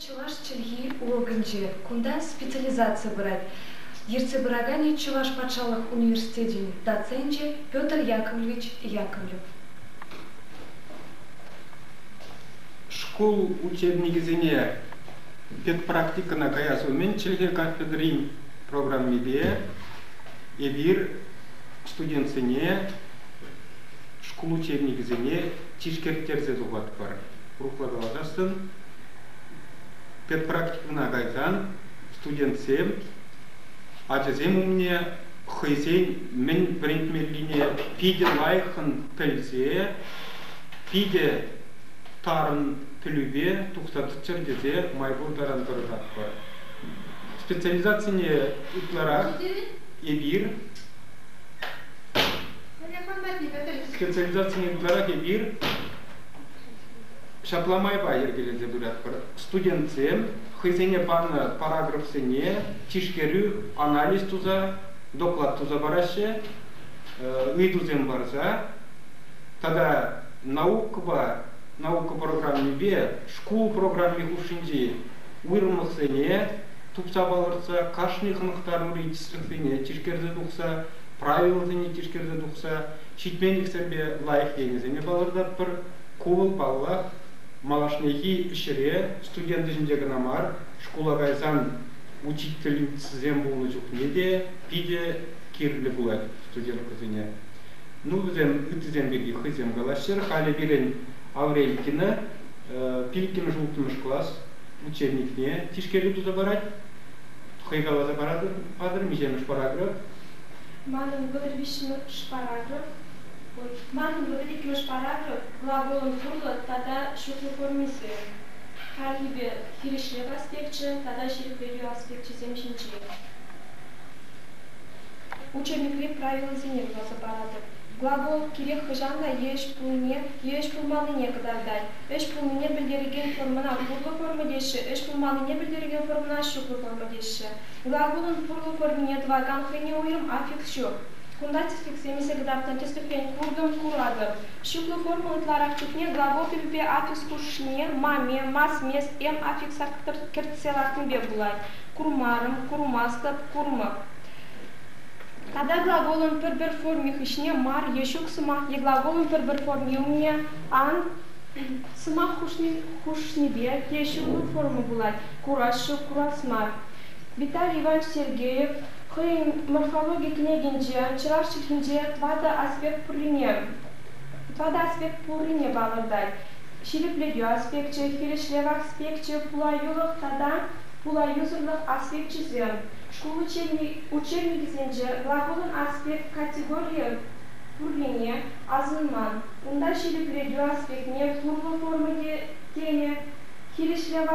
Чӑваш чӗлхи урокӗнче кунта специализаци пырать. Ертсе пыраканӗ Чӑваш патшалӑх университечӗн доценчӗ Петр Яковлевич Яковлев. Шкул учебникӗсене педпрактикӑна каяс умӗн чӗлхе кафедрин программипе эпир студентсене шкул учебникӗсене тишкертерсе тухатпӑр. урӑхла калаканшӑн перпрактикӑна кайсан студентсем ачасем умне хӑйсен мӗн вӗрентмеллине питӗ лайӑххӑн пӗлсе питӗ тарӑн пӗлӳпе тухса тӑччӑр тесе май пур таран тӑрӑшатпӑр. Специализацине ытларах эпир специализацине ытларах эпир Ҫапла майпа йӗркелесе пыратпӑр. Студентсем хӑйсене панӑ параграфсене тишкерӳ, анализ туса, доклад туса параҫҫӗ, ыйтусем парса тата наукӑпа наука программипе шкул программи хушшинчи уйрӑмлӑхсене тупса палӑртса кашни хӑнӑхтарури тӗслӗхсене тишкерсе тухса правилӑсене тишкерсе тухса Ҫитменлӗхсемпе лайӑх енӗсене палӑртатпӑр. Ку вӑл, паллах, малашнехи ӗҫре студент ӗҫӗнче кӑна мар, шкула кайсан учительницӑсем пулнӑ чухне те питӗ кирлӗ пулать студенткӑсене. Ну, вӗсем ыттисем пирки хӑйсем калаҫчӑр. Халӗ пирӗн Аврелькина пиллӗкмӗш-улттӑмӗш класс учебникне тишкерӳ туса парать. Хӑй каласа патӑр, миҫемӗш параграф? Манӑн вӑтӑр виҫҫӗмӗш параграф Манӑн вӑтӑр иккӗмӗш параграф глаголӑн пурлӑ тата ҫутлӑ формисем, хальхипе хирӗҫлев аспекчӗ тата ҫирӗплетӳ аспекчӗсем ҫинчен. Учебникри правилӑсене вуласа паратӑп. Глагол кирек хӑҫан та еш пулнине, еш пулманнине кӑтартать. Ӗҫ пулнине пӗлтерекен формӑна пурлӑ форма теҫҫӗ, ӗҫ пулманнине пӗлтерекен формӑна ҫуклӑ форма теҫҫӗ. Хура кунӑн пурлӑх вырӑнне тӑвакан хӑйне уйрӑм аффикс ҫук. Кунта тӗслӗхсем илсе кӑтартнӑ тӗслӗхрен куртӑм-куратӑп. Ҫыклӑ форма ытларах чухне глагол тӗпӗпе аффикс хушшине маме, масмес, эм аффикса кӗртсе лартнипе пулать. Курмарӑм, курмастӑп, курмӑп. Тата глаголӑн пӗр-пӗр форми хыҫне мар е ҫук сӑмах е глаголӑн пӗр-пӗр форми умне ан сӑмах хушнипе те ҫыклӑ форма пулать. кураҫҫӗ, курас мар. Виталий Иванович Сергеев хӑйӗн морфологи кӗнекинче чӑваш чӗлхинче тӑватӑ аспект пуррине, тӑватӑ аспект пуррине палӑртать. Ҫирӗплетӳ аспекчӗ, хирӗҫлев аспекчӗ, пулаюлӑх тата пулаюсӑрлӑх аспекчӗсем, шкул учебникӗсенче глаголӑн аспект категорийӗ пуррине асӑнман. Унта ҫирӗплетӳ аспектне хурлӑ форма те тенӗ. хирӗҫлев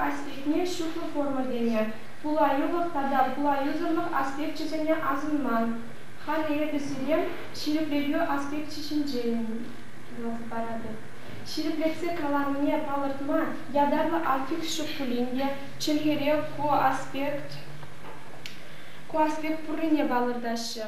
аспектне ҫутлӑ форма кӗнӗ, пулаюлӑх тата пулаюсӑрлӑх аспекчӗсене асӑнма, халӗ эпӗ сире ҫирӗплетӳ аспекчӗ ҫинчен паратӑп. Ҫирӗплетсе каланине палӑртма ятарлӑ аффикс ҫук пулин те чӗлхере ку аспект ку аспект пуррине палӑртаҫҫӗ.